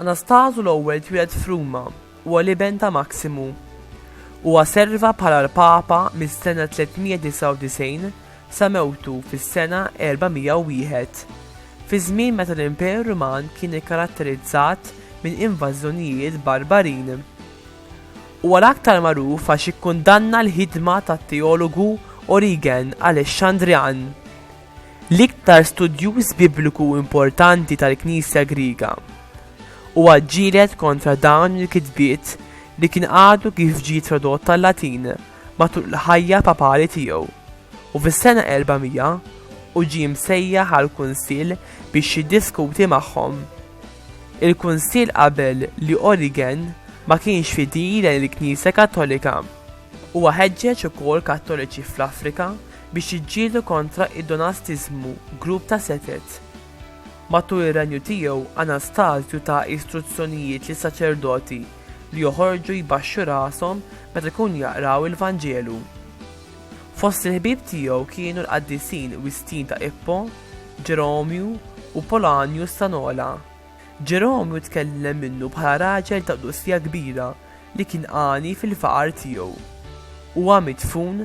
Anastażu l-Ewwel twieled f'Ruma. Huwa l-iben ta' Maksimu. Huwa serva bħala l-Papa mis-sena 399 sa mewtu fis-sena 401, fi żmien meta l-Imperu Ruman kien ikkaratterizzat minn invażjonijiet barbarin. Huwa l-aktar magħruf għax ikkundanna l-ħidma tat-teologu Origen Alexandrian. l-iktar studjuż Bibliku importanti tal-Knisja Griega, huwa ġġieled kontra dawn il-kitbiet li kien għadu kif ġie tradott għal-Latin matul il-ħajja papali tiegħu, u fis-sena 400 hu ġie msejjaħ għall-Kunsill biex jiddiskuti magħhom. Il-Kunsill qabel li Origen ma kienx fidil lejn il-Knisja Kattolika. Huwa ħeġġeġ ukoll Kattoliċi fl-Afrika biex jiġġieldu kontra id-donastiżmu, grupp ta' setgħet. Matul ir-renju tiegħu, Anastasju ta istruzzjonijiet lis-saċerdoti li joħorġu jbaxxu rashom meta jkunu jaqraw il-Vanġelu. Fost il-ħbieb tiegħu kienu l-qaddisin Wistin ta' Ippo, Ġeromju, u Polanjus ta' Nola. Ġeromju tkellem minnu bħala raġel ta' qdusija kbira li kien għani fil-faqar tiegħu. Huwa midfun